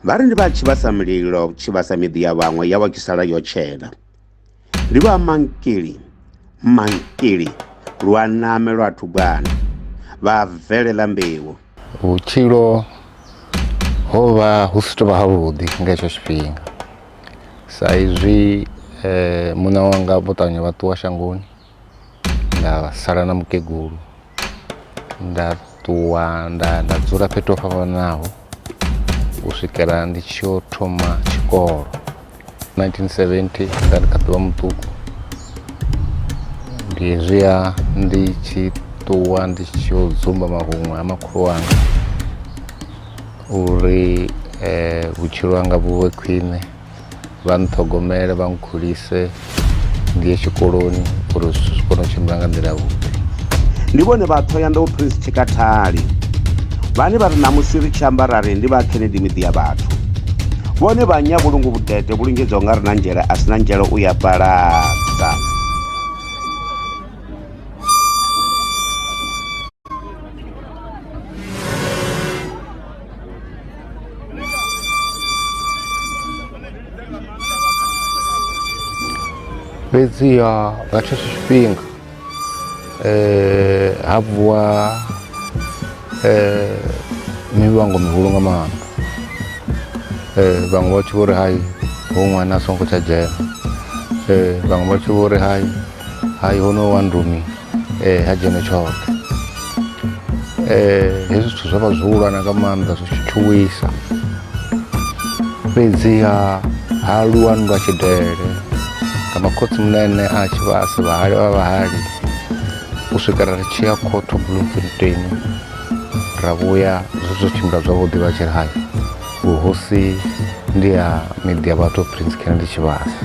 vha ri ndi vha tshi vhasa mulilo tshi vhasa miḓi ya vhaṅwe ya vha tshi sala yo tshena ndi vha mankili mankili lwa name lwa thugwana vha bvelela mbeu vhutshilo ho vha hu si tovha havhuḓi nga hetsho tshifhinga sa izwi muṋe wanga vho ṱavhanya vha ṱuwa shangoni nda sala na mukegulu nda ṱuwa nda nda dzula fhethu ho fhambananaho u swikela ndi tshi yo thoma tshikolo. 1970 nda ndi kha ḓuvha muṱuku ndi hezwiya ndi tshi ṱuwa ndi tshi yo dzumba mahuṅwe ha makhulu wanga uri um vhutshilo hanga vhu vhe khwine vha nṱhogomele vha nkhulise ngei tshikoloni uri zwithu zwi kone u tshimbila nga nḓila yavhuḓi ndi vhone vha thoyandou prince tshikathali vhane vha ri ṋamusi ri tshi amba ra ri ndi vha kennedy miḓi ya vhathu vhone vha nya vhulungu vhudede vhu lingedzaho nga ri na nzhele a si na nzhele u ya paladza fhedzi ha nga tshetsho tshifhinga um ha vuwa um mivhango mihulu nga maanḓa um vhaṅwe vha tshi vho ri hai ho ṅwana a songo tsha dzhena um vhaṅwe vha tshi vho ri hai hai ho no wa ndumi ee ha dzhene tshoṱhe um hezwi zwithu zwo vha zwo hulwana nga maanḓa zwi tshi tshuwisa fhedziha ha lwa nndwa tshidele nga makhotsi munene a tshi vha a si vhahali vha vhahali u swikela ri tshi ya khotho bloemfontein ra vhuya zwi zwo tshimbila zwavhuḓi vha tshi ri hai vhuhosi ndi ha miḓi ya vhathu prince kennedy tshivhasa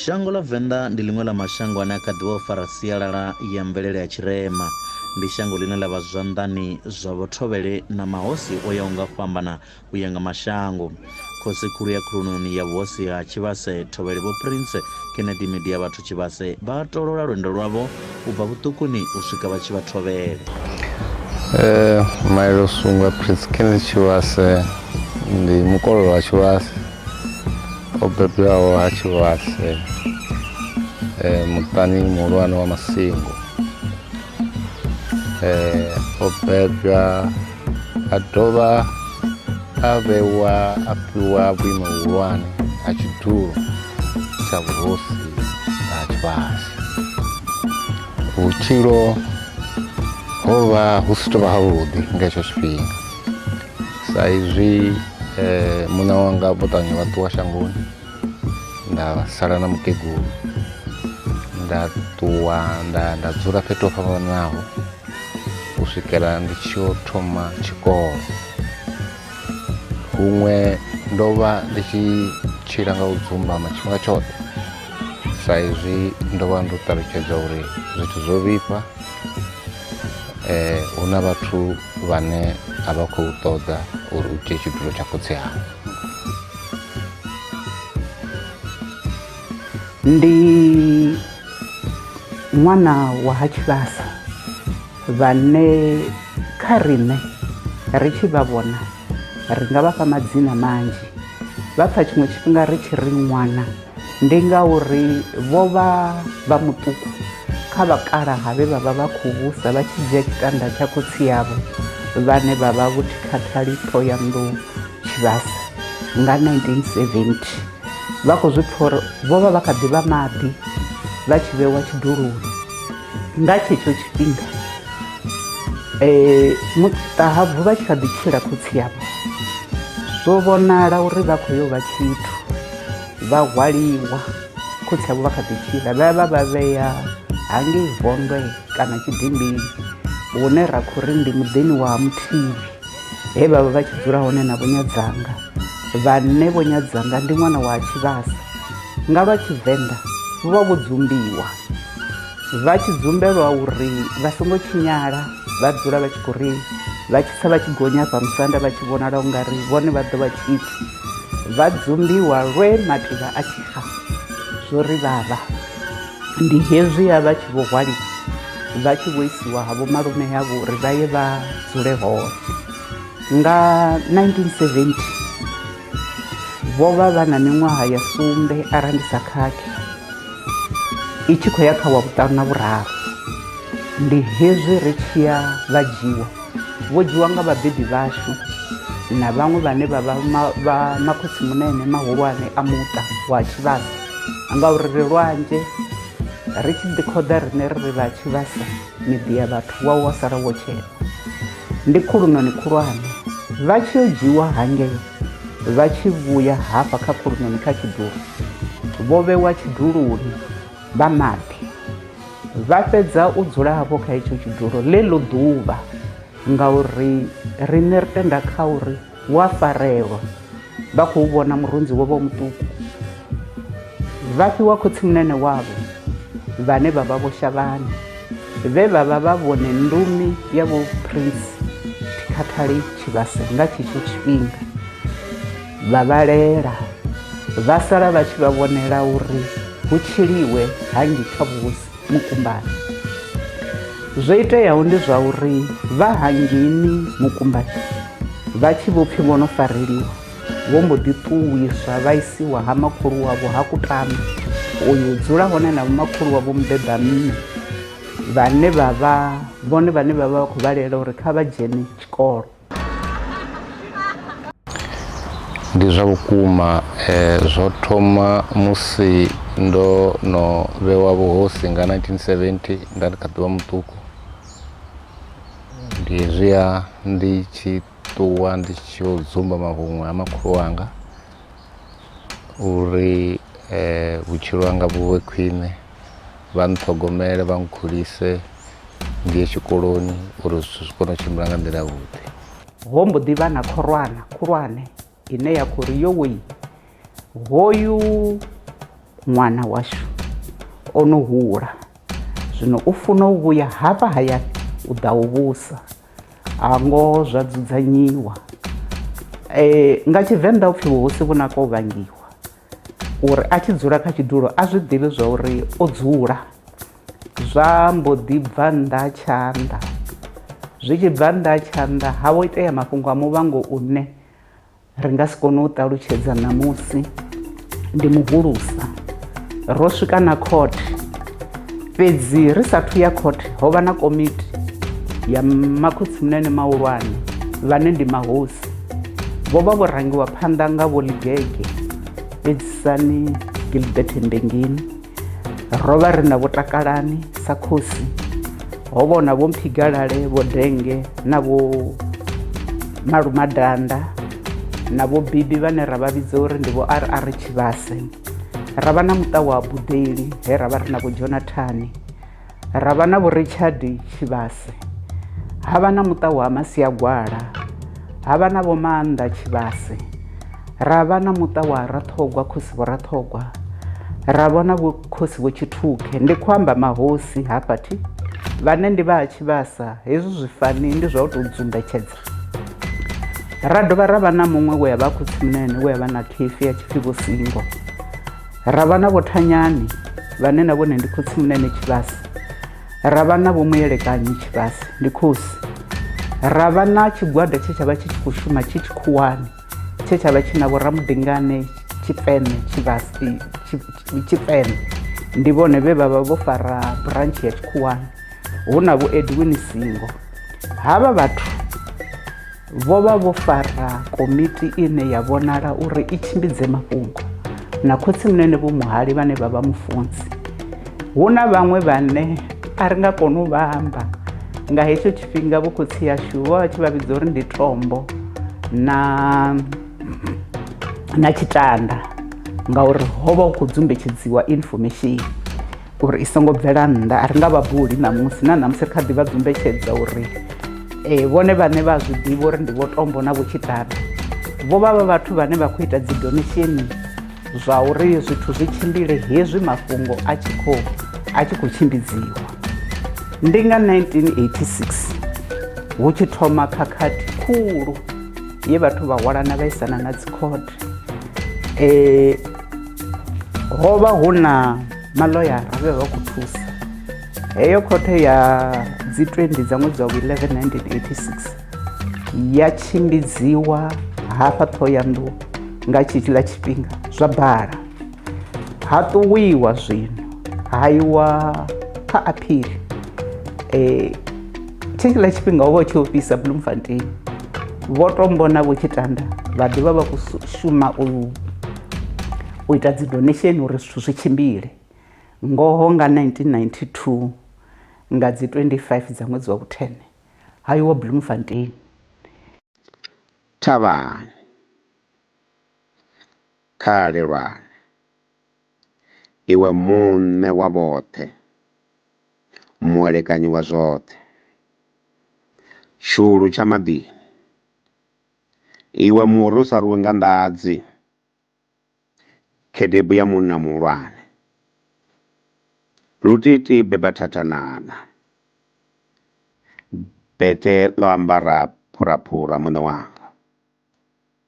shango ḽa venḓa ndi ḽiṅwe ḽa mashango ane a kha ḓivha u fara sialala ya mvelele ya tshirema ndi shango ḽine ḽa vha zwanḓani zwa vhothovhele na mahosi o yaho nga fhambana u ya nga mashango Khosi khulu ya khulunoni ya vhuhosi ha Tshivhase Thovhele Vho Prince Kennedy Midia Vhathu Tshivhase vha tolola lwendo lwavho u bva vhuṱukuni u swika vha tshi vha thovhele. Eh, Maele Usungwa Prince Kennedy Tshivhase ndi mukololo wa Tshivhase o bebwaho ha Tshivhase eh, muṱani muhulwane wa Masingo eh, o bebwa a dovha a vhewa a fhiwa vhuimo vhuhulwane ha tshidulo tsha vhuhosi ha tshifhasi vhutshilo ho vha hu si tovha havhuḓi nga hetsho tshifhinga sa izwi eh, muṋe wanga vho ṱavhanya vha ṱuwa shangoni nda sala na mukegulu nda ṱuwa nda nda dzula fhethu ho fhambananaho u swikela ndi tshi yo thoma tshikolo huṅwe ndo vha ndi tshi tshila nga u dzumbama tshifhinga tshoṱhe sa izwi ndo vha ndo ṱalutshedza uri zwithu zwo vhifha um hu na vhathu vhane a vha khou ṱoḓa uri u dzhie tshidulo tsha khotsi awe ndi ṅwana wa ha tshivhasa vhane kha riṋe ri tshi vha vhona ri nga vhafha madzina manzhi vha pfha tshiṅwe tshifhinga ri tshi ri ṅwana. Ndi ngauri vho vha vha muṱuku kha vhakalaha vhe vha vha vha khou vhusa vha tshi dzhia tshitanda tsha khotsi avho vhane vha vha Vho Thikhathali Ṱhohoyanḓou Tshivhasa nga 1970. Vha khou zwi pfa uri vho vha vha kha ḓi vha maḓi vha tshi vhewa tshiduloni. Nga tshetsho tshifhinga Ṱahabvu vha tshi kha ḓi tshila khotsi avho zwo vhonala uri vha khou yo vha tshithu. vha hwaliwa khotsi avho vha kha ḓi tshila vha vha vha vhea hangei vondwe kana tshidimbini hune ra khou ri ndi muḓini wa muthivi he vha vha vha tshi dzula hone na vhonyadzanga vhanne vhonyadzanga ndi ṅwana wa tshivhasa nga lwa tshivenḓa vho vha vho dzumbiwa vha tshi dzumbelwa uri vha songo tshinyala vha dzula vha tshi khou ri vha tshisa vha tshi gonya fha musanda vha tshi vhonala u nga ri vhone vha ḓo vha tshithu vha dzumbiwa lwe mativha a tshi fa zwo ri vhavha ndi hezwi ya vha tshi vho hwaliwa vha tshi vho isiwa ha vho malume yavho uri vha ye vha dzule hone nga 1970 vho vha vha na miṅwaha ya sumbe arali ndi sa khakhi i tshi khou ya kha wa vhuṱanu na vhuraru ndi hezwi ri tshiya vha dzhiwa vho dzhiwa nga vhabebi vhashu na vhaṅwe vhane vha vha makhotsi munene mahulwane a muṱa wa tshivhasa ngauri ri lwanzhe ri tshi ḓi khoḓa rine ri ri vha tshivhasa miḓi ya vhathu wa wa sala wo tshela ndi khulunoni khulwane vha tshi yo dzhiwa hangei vha tshi vhuya hafha kha khulunoni kha tshidulo vho vhewa tshiduloni vha maḓi vha fhedza u dzula hafho kha itsho tshidulo ḽe ḽo ḓuvha ngauri riṋe ri tenda kha uri hu a farelwa vha khou vhona murunzi wo vha u muṱuku vha fhiwa khotsimunene wavho vhane vha vha vho shavhani vhe vha vha vha vhone ndumi ya vho prince thikhathali tshivhase nga tshetsho tshifhinga vha vhalela vha sala vha tshi vha vhonela uri hu tshiliwe hangi kha vhusi mukumbani zwo iteaho ndi zwa uri vha hangini mukumbani vha tshi vho pfhi vho no fareliwa vho mbo ḓi ṱuwiswa vha isiwa ha makhulu wavho ha kutama uyu dzula hone na vhomakhulu wavho mubeba mme vhane vha vha vhone vhane vha vha vha khou vhalela uri kha vha dzhene tshikolo ndi zwa vhukuma eh, zwo thoma musi ndo no vhewa vhuhosi nga 1970 nda ndi kha ḓuvha muṱuku ndi hezwiya ndi tshi ṱuwa ndi tshi yo dzumba mahuṅwe ha makhulu wanga uri vhutshilo hanga vhu vhe khwine, vha nṱhogomele, vha nkhulise, ndi ye tshikoloni uri zwithu zwi kone u tshimbila nga nḓila yavhuḓi. Ho mbo ḓi vha na khorwana khulwane ine ya khou ri, Yowee, hoyu ṅwana washu o no hula, zwino u funa u vhuya hafha hayani u ḓa u vhusa. ha ngoho zwa dzudzanyiwa eh nga tshivenḓa upfhi vhuhosi vhu naka u vhangiwa uri a tshi dzula kha tshidulo a zwi ḓivhi zwa uri o dzula zwa mbo ḓi bva nnḓa tshanḓa zwi tshi bva nnḓa tshanḓa ha vho itea mafhungo a muvhango une ri nga si kone u ṱalutshedza ṋamusi ndi muhulusa ro swika na court fhedzi ri sathu ya court ho vha na komiti ya makhotsi munene mahulwane vhane ndi mahosi vho vha vho rangiwa phanḓa nga vho ligege edzisani gilbert mbengeni ro vha ri na vho takalani sa khosi ho vhona vho mphigalale vho denge na vho malumadanda na vho bibi vhane ra vha vhidza uri ndi vho rr tshivhase ra vha na muṱa wa budeli he ra vha ri na vho jonathani ra vha na vho richard tshivhase ha vha na muṱa wa masiagwala ha vha na vho maanḓa tshivhase ra vha na muṱa wa raṱhogwa khosi vho raṱhogwa ra vhona vho khosi vho tshithukhe ndi khou amba mahosi hafha thi vhane ndi vha tshivhasa hezwi zwifani ndi zwa u tou dzumbetshedza ra dovha ra vha na muṅwe we a vha khotsimunene we a vha na khifi ya tshipfi vho singo ra vha na vhothanyani vhane na vhone ndi khotsi munene tshivhasi ra vha na vhomuyelekanyi tshivhasi ndi khosi ra vha na tshigwada tshe tsha vha tshi tshi khou shuma tshi tshikhuwani tshe tsha vha tshi na vhoramudingane tshipene tshivhasi tshipene ndi vhone vhe vha vha vho fara branch ya tshikhuwani hu na vho edwin singo havha vhathu vho vha vho fara komiti ine ya vhonala uri i tshimbidze mafhungo na khotsi munene vho muhali vhane vha vha mufunzi hu na vhaṅwe vhane a ri nga koni u vha amba nga hetsho tshifhinga vho khotsi yashu vho vha tshi vha vhidza uri ndi tombo na na tshitanda ngauri ho vha hu khou dzumbetshedziwa information uri i songo bvela nnḓa a ri nga vha buli ṋamusi na ṋamusi ri kha ḓi vha dzumbetshedza uri um vhone vhane vha zwi ḓivha uri ndi vho tombo na vhotshitata vho vha vha vhathu vhane vha khou ita dzi donationi zwa uri zwithu zwi tshimbile hezwi mafhungo a tshi khou a tshi khou tshimbidziwa ndi nga 1986 hu tshi thoma khakhathi khulu ye vhathu vha hwalana vhaisana na dzikhothe e, ho vha hu na maloyara vhe vha khou thusa heyo khothe ya dzi 20 dza ṅwedzi wa 11 1986 ya tshimbidziwa hafha ṱhohoyanḓou nga tshetshiḽa tshifhinga zwa bala ha ṱuwiwa zwino ha iwa kha aphili um tshikiḽa tshifhinga ho vha tshi ofhisa bloemfontein vho to mbona vho tshi tanda vha ḓivha vha khou shuma u u ita dzi donation uri zwithu zwi tshimbile ngoho nga 1992 nga dzi 25 dza ṅwedzi wa vhuthene ha iwa bloemfontein thavhani Kha a lelwane, Iwe Muṋe wa vhoṱhe, Muelekanyi wa zwoṱhe, Tshihulu tsha maḓini, Iwe muri u sa rwiwi nga nḓadzi, Khedebu ya munna muhulwane, Lutiti beba thathanana, Bete ḽo ambara phuraphura, Muṋe wanga.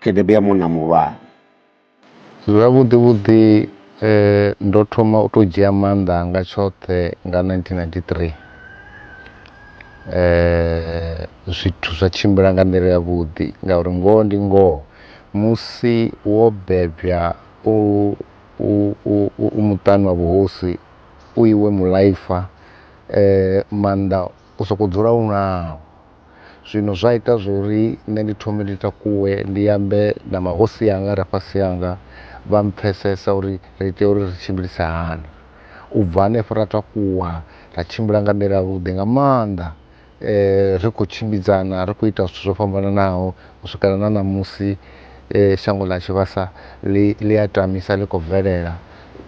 Tshedebe ya munna muhulwane. Zwavhuḓi vhuḓi ndo thoma u to dzhia maanḓa anga tshoṱhe nga 1993 zwithu zwa tshimbila nga nḓila ya vhuḓi ngauri ngoho ndi ngoho musi wo bebwa u u muṱani wa vhuhosi u iwe muḽaifa maanḓa. u sokou dzula u naho. Zwino zwa ita zwa uri nṋe ndi thome ndi takuwe ndi ambe na mahosi anga a re fhasi hanga, vha mpfhesesa uri ri tea uri ri tshimbilise hani. U bva hanefho ra takuwa ra tshimbila nga nḓila yavhuḓi nga maanḓa ri khou tshimbidzana ri khou ita zwithu zwo fhambananaho u swikela na ṋamusi shango ḽa Tshivhasa ḽi a tamisa ḽi khou bvelela.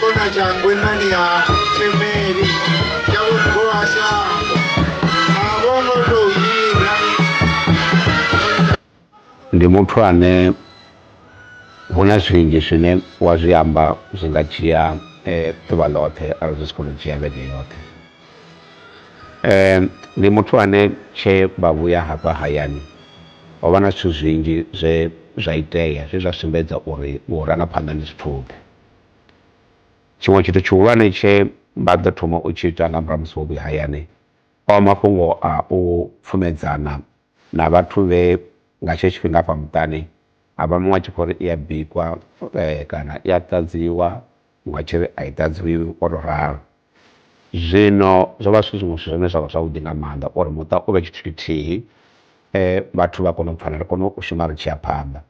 Kona cha ngwenani ya temeri ya kugoasha avongo to yira ndi muthu ane hu na zwinzhi zwine wa zwi amba zwi nga dzhia eh, ḓuvha ḽoṱhe arali zwi si kone u dzhia vhege yoṱhe um ndi muthu ane tshe vha vhuya hafha hayani ho vha na zwithu zwinzhi zwe zwa itea zwe zwa sumbedza uri vhurangaphanḓa ndi zwithuḓe Tshiṅwe tshithu tshihulwane tshe vha ḓo thoma u tshi ita nga murahu ha musi vho vhuya hayani, o vha mafhungo au pfhumedzana na vhathu vhe nga tshetsho tshifhinga hafha muṱani avha muṅwe a tshi khou ri i ya bikwa kana i ya ṱadziwa muṅwe a tshi ri ai ṱadziwi ngo to ralo. Zwino zwovha zwi zwiṅwe zwithu zwine zwavha zwavhuḓi nga maanḓa uri muṱa uvhe tshithu tshithihi vhathu vha kone u pfhana ri kone u shuma ri tshi ya phanḓa.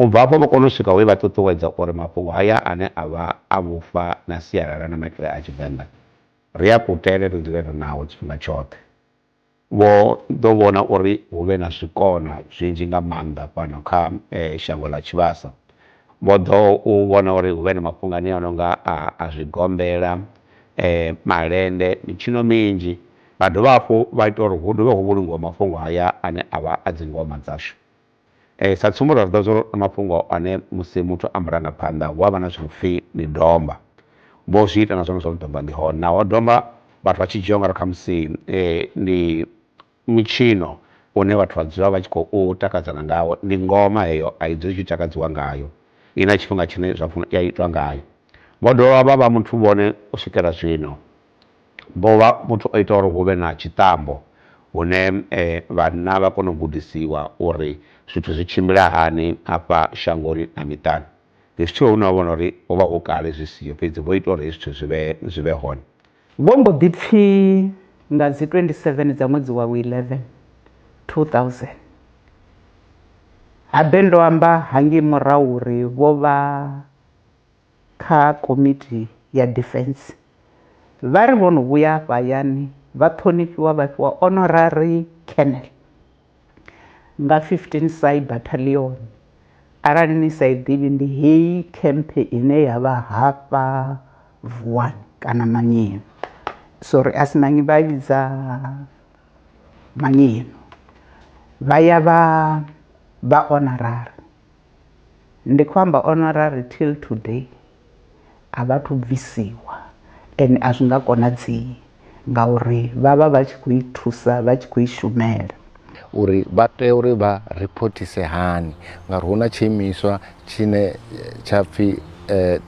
U bva afho vho kona u swika we vha ṱuṱuwedza uri mafhungo haya ane a vha a vhufa na sialala na maitele a Tshivenḓa ri a kutele ri dzule ri nao tshifhinga tshoṱhe. Vho ḓo vhona uri hu vhe na zwikona zwinzhi nga maanḓa fhano kha shango ḽa tshivhasa. Vho ḓo u vhona uri hu vhe na mafhungo anea a no nga a a zwigombela, malende, mitshino minzhi. Vha dovha hafhu vha ita uri hu dovhe hu vhulungiwe mafhungo haya ane a vha a dzingoma dzashu. Sa tsumbo ra zwiḓivha zwori na mafhungo ane musi muthu a murangaphanḓa hu avha na zwithu zwinopfhi ndi domba, vho zwi ita na zwone zwa uri domba ḽi hone naho domba vhathu vha tshi dzhia ungari khamusi ndi mutshino une vhathu vha dzula vha tshi khou takadzana ngawo, ndi ngoma heyo ai dzuli i tshi takadziwa ngayo ina tshifhinga tshine zwa funa ya itwa ngayo. Vho dovha vha vha muthu vhone u swikela zwino Bovha muthu o ita uri huvhe na tshiṱambo hune vhanna vha kona u gudisiwa uri zwithu zwi tshimbila hani afha shangoni na miṱani. Ndi zwithu hune wa vhona uri hovha hu kale zwi siho fhedzi vho ita uri hezwi zwithu zwivhe zwivhe hone. Vho mbo ḓi pfi nga dzi 27 dza ṅwedzi wa vhu 11, 2000, habe ndo amba hangei murahu uri vho vha. kha Komiti ya Defense vha ri vho no vhuya afha hayani vha ṱhonifhiwa vha fhiwa Honorary Colonel nga 15 Sy Battalion. Arali ni sa i ḓivhi ndi heyi camp ine ya vha hafha Vuwani kana Manyenu, sorry asi Manyi vha i vhidza Manyenu, vha ya vha vha Honorary. Ndi khou amba honorary till today a vha thu bvisiwa ende a zwi nga konadzei ngauri vha vha vha tshi kho i thusa vha tshi kho i shumela. uri vha tea uri vha riphothise hani ngauri hu na tshiimiswa tshine tsha pfhi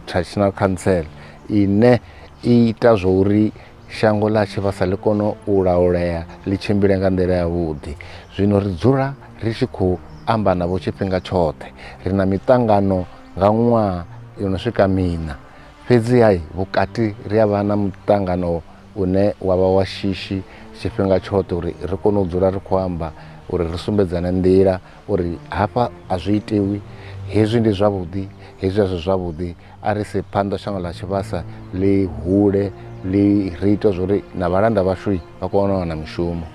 traditional council ine i ita zwo uri shango ḽa tshivhasa ḽi kone u laulea ḽi tshimbile nga nḓila ya vhuḓi zwino ri dzula ri tshi khou amba navho tshifhinga tshoṱhe ri na miṱangano nga ṅwaha yo no swika miṋa fhedzi hai vhukati ri a vha na muṱangano une wa vha wa shishi tshifhinga tshoṱhe uri ri kone u dzula ri khou amba uri ri sumbedzane nḓila uri hafha a zwi itiwi hezwi ndi zwavhuḓi hezwi a zwi zwavhuḓi a ri se phanḓa shango ḽa tshivhasa ḽi hule ḽi ri ita zwori na vhalanda vhashu vha kone u wana mishumo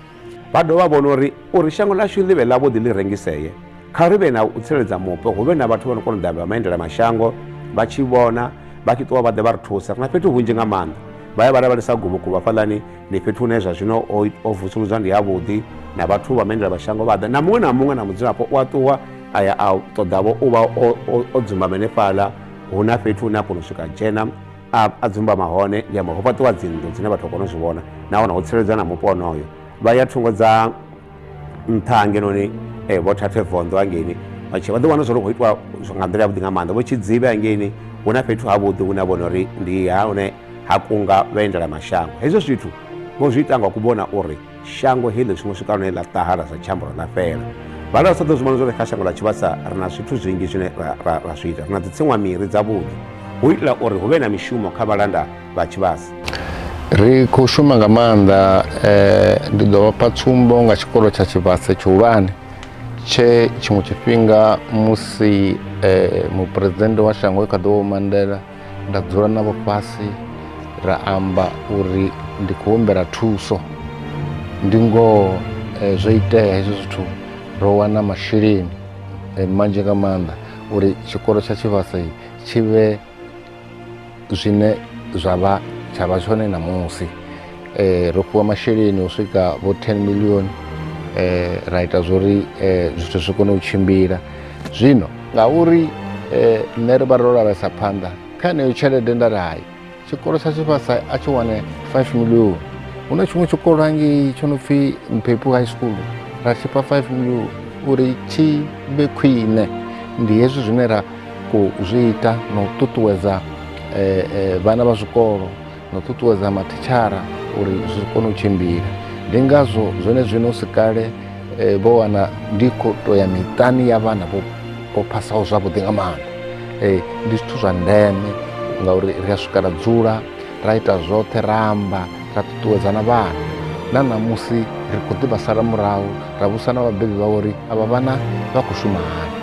vha dovha vhona uri uri shango ḽashu ḽi vhe ḽavhuḓi ḽi rengisee kha ri vhe na u tsireledza mupo hu vhe na vhathu vha no kona u ḓa vha maendela mashango vha tshi vhona vha tshi ṱuwa vha ḓe vha ri thusa ri na fhethu hunzhi nga maanḓa vha ya vha lavhelesa guvhuguvhu hafhaḽani ndi fhethu hune zwa zwino o vusuludzwa ndi yavhuḓi na vhathu vha maendela mashango vha ḓa na muṅwe na muṅwe na mudzulapo u a ṱuwa a ya a ṱoḓavho u vha o dzumbama henefhaḽa hu na fhethu hune a kona u swika dzhena a dzumbama hone ndi amba ho fhaṱiwa dzinnḓu dzine vhathu a kona u zwi vhona nahone ho tsireledzwa na mupo onoyo vha ya thungo dza nṱha hangenoni eh, vho thathe vondo hangeini vha tshi vha ḓo wana zwo khou itwa nga nḓila yavhuḓi nga maanḓa vho tshidzivhe hangeini hu na fhethu havhuḓi hune a vhona uri ndi ha hune ha kunga vhaendela mashango hezwo zwithu vho zwi ita nga kuvhona uri shango heḽi zwiṅwe swika lune ḽa ṱahala zwa tshiamboro ḽa fhela vhala sa ḓo zwi vhona zwori kha shango ḽa tshivhasa ri na zwithu zwinzhi zwine ra zwi ita ri na dzitsinwa miri dzavhuḓi hu itela uri hu vhe na mishumo kha vhalanda vha tshivhasa ri khou shuma nga maanḓa um ndi ḓo vhapha tsumbo nga tshikolo tsha tshivhasa tshihulwane tshe tshiṅwe tshifhinga musi um muphuresidennde wa shango e kha ḓo vho mandela nda dzula navho fhasi ra amba uri ndi khou humbela thuso ndi ngoho um zwo itea hezwo zwithu ro wana masheleni um manzhi nga maanḓa uri tshikolo tsha tshivhasa tshi vhe zwine zwa vha tsha vha tshone ṋamusi um ro fhiwa masheleni u swika vho ten million um ra ita zwo uri um zwithu zwi kone u tshimbila zwino ngauri um nṋe ri vha ro lavhelesa phanḓa kha yeneyo tshelede nda ri hai tshikolo tsha tshifhasa a tshi wane five million hu na tshiṅwe tshikolo hangei tsho no pfhi mphepu high school ra tshifha five million uri tshi vhe khwine ndi hezwi zwine ra khou zwi ita na u ṱuṱuwedza eh, eh, vhana vha zwikolo na u ṱuṱuwedza mathitshara uri zwi kone u tshimbila ndi ngazwo zwone zwino si kale eh, vho wana ndi khou to ya miṱani ya vhana vho vho phasaho zwavhuḓi nga maanḓa Eh, ndi zwithu zwa ndeme ngauri ri a swika ra dzula ra ita zwoṱhe ra amba ra ṱuṱuwedza na vhana na ṋamusi ri khou ḓi vha sala murahu ra vhusa na vhabebi vha uri avha vhana vha khou shuma hani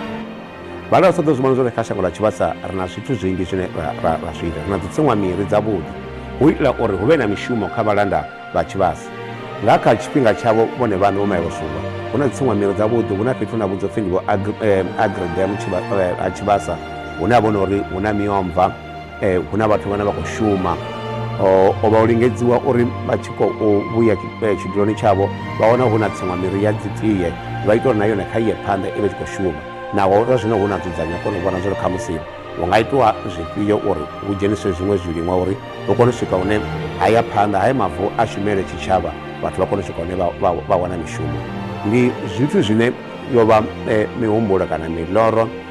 vhale vha sa ḓo zwi vhona zwone kha shango ḽa tshivhasa ri na zwithu zwinzhi zwine ra zwi ita ri na dzitsiṅwa miri dzavhuḓi hu itela uri hu vhe na mishumo kha vhalanda vha tshivhasa nga kha tshifhinga tshavho vhone vhaṋe vho maye vhosungwa hu na dzitsiṅwa miri dzavhuḓi hu na fhethu na vhudzo pfhi ndi vho agridam eh, eh, a tshivhasa hune ha vhona uri hu na miomva eh, hu na vhathu vhane vha khou shuma o vha u lingedziwa uri vha tshi khou vhuya eh, tshiduloni tshavho vha wana hu na tsiṅwa miri ya dzitie vha ita uri na yone kha iye phanḓa i vhe tshi khou shuma naho zwa zwino hu na dzudzanya kona u vhona zwori kha musi hu nga itiwa zwifhio uri hu dzheniswe zwiṅwe zwiliṅwa uri hu kone u swika hune haya phanḓa haya mavu a shumele tshitshavha vhathu vha kone u swika hune vha wana mishumo ndi zwithu zwine yo vha eh, mihumbulo kana miloro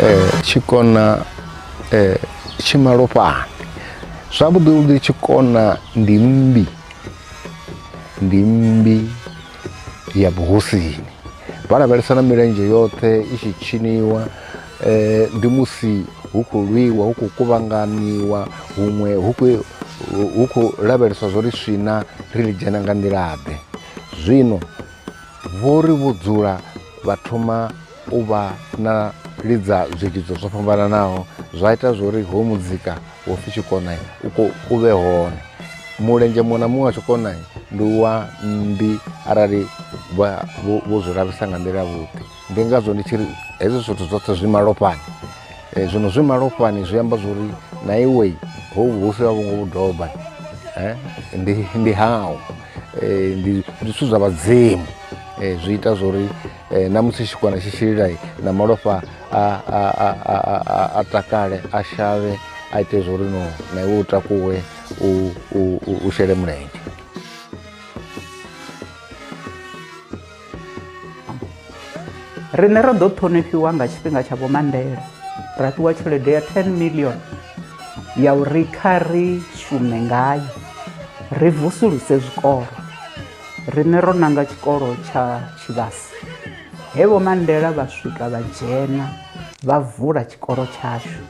eh, tshikona eh, tshimalofhani zwavhuḓi vhuḓi tshikona ndi mmbi ndi mmbi ya vhuhosini vha lavhelesa na milenzhe yoṱhe i tshi tshiniwa eh, ndi musi hu khou lwiwa hu khou kuvhanganiwa huṅwe hu khou lavheleswa zwo ri swina ri ḽi dzhena nga nḓilaḓe zwino Vho ri vho dzula vha thoma u vha na lidza zwilidzo zwo fhambananaho zwa ita zwori ho muzika wo pfi tshikona u ko u vhe hone mulenzhe muṅwe na muṅwe wa tshikona ndi wa mmbi arali vho zwi lavhesa nga nḓila vhuḓi ndi ngazwo ndi tshi ri hezwi zwithu zwoṱhe zwi malofhani um zwino zwi malofhani zwi amba zwo ri na iwe ho vhuhosi ha vhungo vhudoba um ndi ndi hau um ndi ndi zwithu zwa vhadzimu um zwi ita zwo ri um na musi tshikwana tshi tshililai na malofha a a- a- a- a- a- a takale a shavhe a ite zwo ri no na iwe u takuwe u- u- u- u shele mulenzhe riṋe ro ḓo ṱhonifhiwa nga tshifhinga tsha vho mandela ra fhiwa tshelede ya 10 million ya uri kha ri shume ngayo ri vusuluse zwikolo riṋe ro nanga tshikolo tsha tshivhasi he vho mandela vha swika vha dzhena vha vula tshikolo tshashu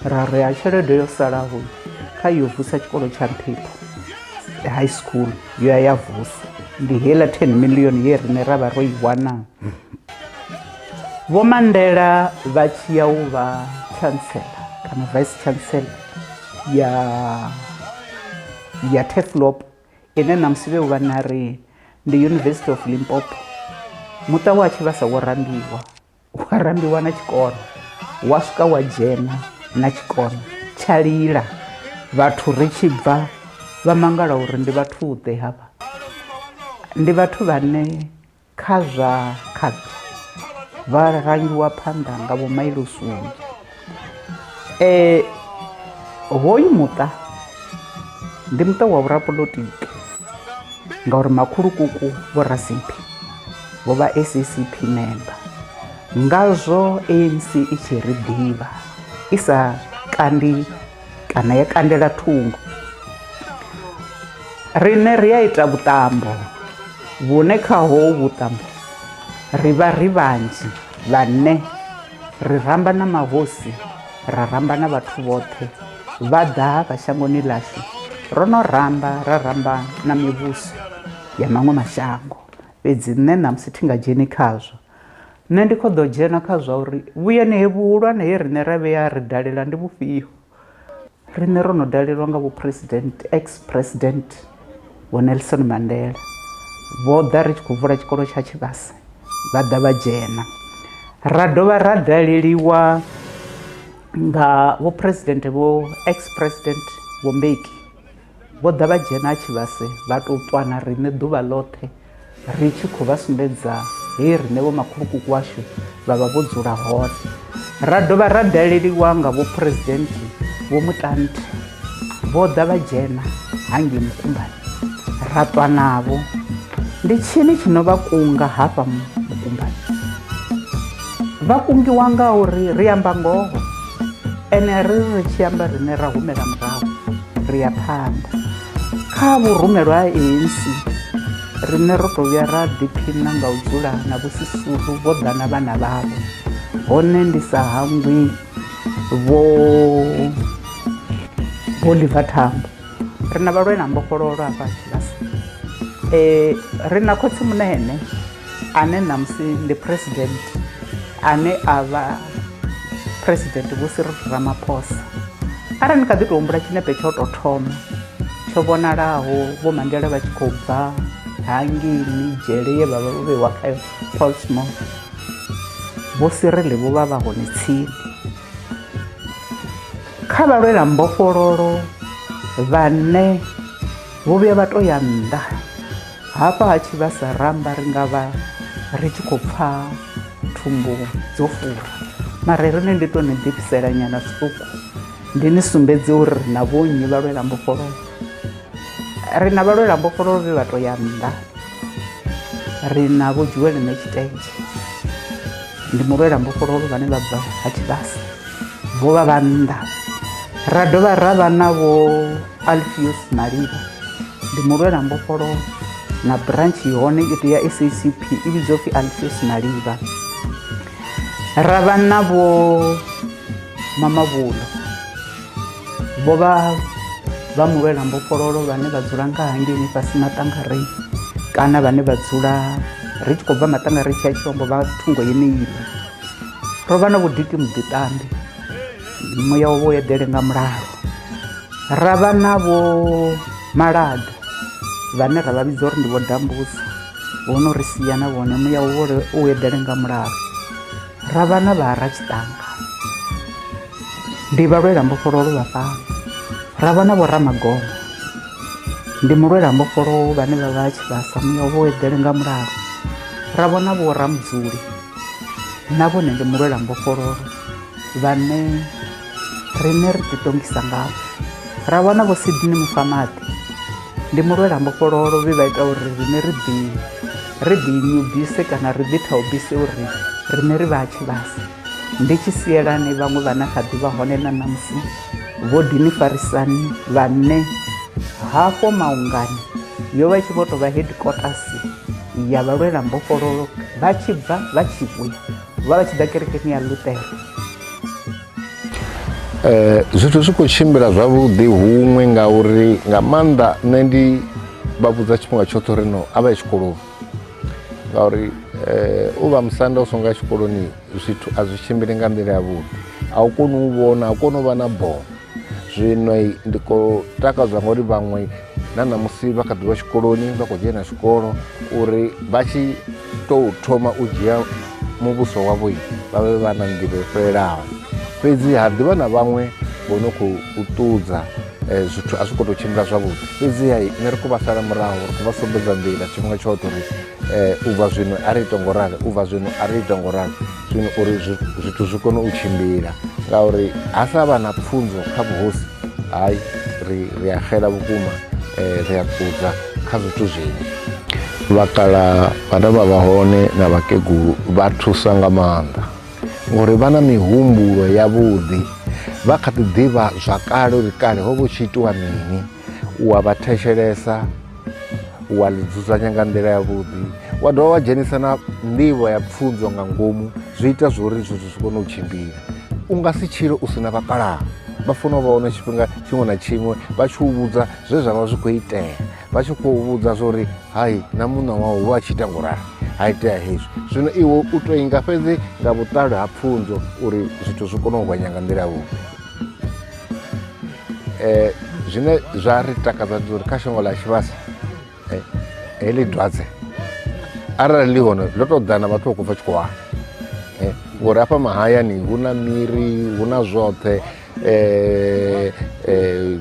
ra ri ha tshelede yo salaho kha yo vusa tshikolo tsha nṱhipho high school yo ya ya vuswa ndi heiḽa 10 million ye rine ra vha ro i wana vho mandela vha tshi ya u vha chancellor kana vice chancellor ya ya teflop ine namusi vhe uvha na ri ndi university of limpopo muṱa wa tshi vha sa wo rambiwa wa rambiwa na tshikona wa swika wa dzhena na tshikona tsha lila vhathu ri tshi bva vha mangala uri ndi vhathu ḓe hafha ndi vhathu vhane kha zwa khaṱho vha rangiwa phanḓa nga vho mailosunzhi Eh, hoyu muṱa ndi muṱa wa vhurapolotiki ngauri makhulukuku vho rasimphi vho vha saccp member ngazwo anc i tshi ri ḓivha i sa kandi kana ya kandela thungo riṋe ri a ita vhuṱambo vhune khaho vhuṱambo ri vha ri vhanzhi vhane ri ramba na mahosi ra ramba na vhathu vhoṱhe vha ḓaka shangoni ḽashu ro no ramba ra ramba na mivhuso ya maṅwe mashango fhedzi nṋe ṋamusi thi nga dzheni khazwo nṋe ndi kho ḓo dzhena kha zwa uri vhuyani he vhuhulwane he riṋe ra vheya ri dalela ndi vhufhio Riṋe ro no dalelwa nga vho president ex president vho Nelson Mandela vho ḓa ri tshi khou vula tshikolo tsha Tshivhase vha ḓa vha dzhena ra dovha ra daleliwa nga vho president vho ex president vho Mbeki vho ḓa vha dzhena Tshivhase vha tou ṱwana riṋe ḓuvha ḽoṱhe ri tshi khou vha sumbedza he riṋe vhomakhulukuku washu vha vha vho dzula hone ra dovha ra daleliwa nga vhuphuresidenti vho mutante vho ḓa vha dzhena hangei mukumbani ra ṱwa navho ndi tshini tshi no vha kunga hafha mukumbani vha kungiwa nga uri ri amba ngoho ene ri ri tshi amba riṋe ra humela murahu ri ya phanḓa Kha vhurumelwa ha ANC, riṋe ro tou vhuya ra ḓiphina nga u dzula na Vho Sisulu vho ḓa na vhana vhavho, hone ndi sa hangwi Vho Oliver Tambo. Ri na vhalwela mbofhololo hafha Tshivhasa, ri na Khotsi Munene. ane ṋamusi ndi president ane a vha president vho siri ramaphosa arali ni kha ḓi tou humbula tshinepe tsho tou thoma tsho vhonalaho vho mandela vha tshi khou bva hangini dzhele ye vhavha vho vhewa kha polsmo vho sirele vho vha vha hone tsini kha vhalwela mbofhololo vhane vho vhuya vha to ya nnḓa Hafha ha tshivhasa ra amba ri nga vha ri tshi khou pfa thumbu dzo fura mara ri ne ndi to ni ḓifhisela nyana zwiṱuku ndi ni sumbedze uri ri na vhonnyi vha lwela mbofholowo ri na vha lwela mbofholowo vhe vha to ya nnḓa ri na vho dzhiwele ne tshitenzhe ndi mulwela mbofholowo vhane vha bva ha tshivhasa vho vha vha nnḓa ra dovha ra vha na vho alfios malivha ndi mulwela mbofholowo na branch hone i tea sacp i vhidzwa upfhi alfios malivha ra vha na vho mamavhulo vho vha vha mulwela mbofhololo vhane vha dzula nga hangeni fhasi maṱangarei kana vhane vha dzula ri tshi khou bva maṱangarei tshi ya tshilombo vha thungo yeneiḽa ro vha na vhudiki muḓiṱambi muya wo eḓele nga mulalo ra vha na vho malaḓa vhane ra vha vhidza uri ndi vho dambusa vho no ri sia na vhone muya wo u eḓele nga mulalo ra vha na vhara tshiṱanga ndi vha lwela mbofholowo vha fhano ra vha na vho ramagomo ndi mulwela mbofholowo vhane vha vha tshi vhasa muya wo eḓele nga mulalo ra vhona vho ramudzuli na vhone ndi mulwela mbofholowo vhane riṋe ri ḓiṱongisa ngavho ra wana vho Sydney Mufamaḓi ndi mulwela mbofhololo vhe vha ita uri riṋe ri ḓi ri ḓi nyubise kana ri ḓi thaubise uri riṋe ri vha tshi vhasa ndi tshi sielani vhaṅwe vhana kha ḓivha hone na ṋamusi vho dini farisani vhanne hafho maungani yo vha i tshi vho tovha headquarters ya vhalwela mbofhololo vha tshi bva vha tshi vhuya wala tshi ḓa kerekeni ya luthero Eh, zwithu zwi khou tshimbila zwavhuḓi huṅwe ngauri nga maanḓa nṋe ndi vha vhudza tshifhinga tshoṱhe uri no a vha ye tshikoloni ngauri eh, u vha musanda u songo ya tshikoloni zwithu a zwi tshimbili nga nḓila yavhuḓi a u koni u vhona a u koni u vha na bono zwino ndi khou takadzwa ngori vhaṅwe na ṋamusi vha kha ḓi vha tshikoloni vha khou dzhena tshikolo uri vha tshi tou thoma u dzhia muvhuso wavho vha vhe vha na nḓivho yo fhelelaho fhedzi ha ḓivha na vhaṅwe vho no khou ṱudza eh, zwithu a zwi khou tou tshimbila zwavhuḓi fhedziha nṋe ri khou vha sala murahu ri khou vha sumbedza nḓila tshifhinga tshoṱhe uri Eh, u bva zwino a ri ita ngo rali u bva zwino a ri ita ngo rali zwino uri zwithu zwi kone u tshimbila ngauri ha sa vha na pfunzo kha vhuhosi hayi ri ri a xela vhukuma eh, ri a kudza kha zwithu zwinzhi vhakala vhane vha vha hone na vhakegulu vha thusa nga maanḓa ngori vha na mihumbulo yavhuḓi vha kha ḓi ḓivha zwa kale uri kale ho vha hu tshi itiwa mini wa vha thetshelesa wa ḽi dzudzanya nga nḓila yavhuḓi wa dovha wa dzhenisa na nḓivho ya pfunzo nga ngomu zwi ita zwo uri zwithu zwi kone u tshimbila u nga si tshile u si na vhakalaha vha funa u vha hone tshifhinga tshiṅwe na tshiṅwe vha tshi u vhudza zwe zwa vha zwi khou itea vha tshi khou vhudza zwa uri hai na muṋa wau vha tshi ita ngurali ha itea hezwi zwino iwe u to inga fhedzi nga vhuṱali ha pfunzo uri zwithu zwi kone u gonya nga nḓila yavhuḓi eh, zwine zwa ri takadza ndi uri kha shango ḽa tshivhasa eh, heḽi dwadze arali ḽi hone ḽo tou ḓana vhathu vha khou bva tshikhuwana eh, ngori hafha mahayani hu na miri hu na zwoṱhe eh, eh,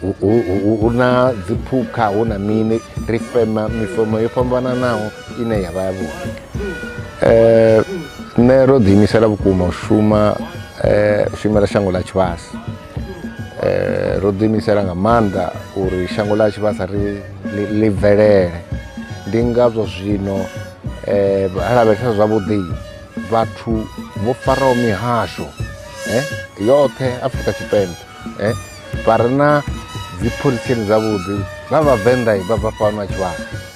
hu- hu- hu- hu na dziphukha hu na mini ri fema mifomo yo fhambananaho ine ya vha ya vhuḓi eh, nṋe ro ḓiimisela vhukuma u shuma eh, u shumela shango ḽa tshivhasa eh, ro ḓiimisela nga maanḓa uri shango ḽa tshivhasa ri ḽi bvelele ndi ngazwo zwino eh, lavhelesa zwavhuḓi vhathu vho faraho mihasho eh, yoṱhe afrika tshipembe eh, vha re na dzipholisini dzavhuḓi vha vhavenḓa vha bva fhano a tshivhasa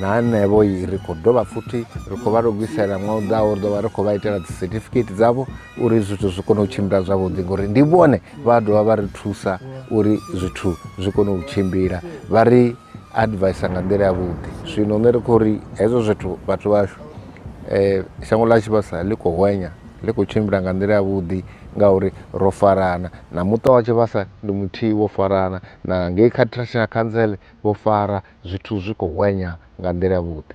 na hanevho ri khou dovha futhi ri khou vha lugisela ṅwa u ḓaho ri ḓovha ri khou vha itela dzi certificate dzavho uri zwithu zwi kone u tshimbila zwavhuḓi ngori ndi vhone vha dovha vha ri thusa uri zwithu zwi kone u tshimbila vha ri advisa nga nḓila yavhuḓi zwino nṋe ri khou ri hezwo zwithu vhathu vhashu um shango ḽa tshivhasa ḽi khou hwenya ḽi khou tshimbila nga nḓila yavhuḓi ngauri ro farana na muṱa wa tshivhasa ndi muthihi wo farana na ngei kha traditional council vho fara zwithu zwi khou hwenya nga nḓila yavhuḓi.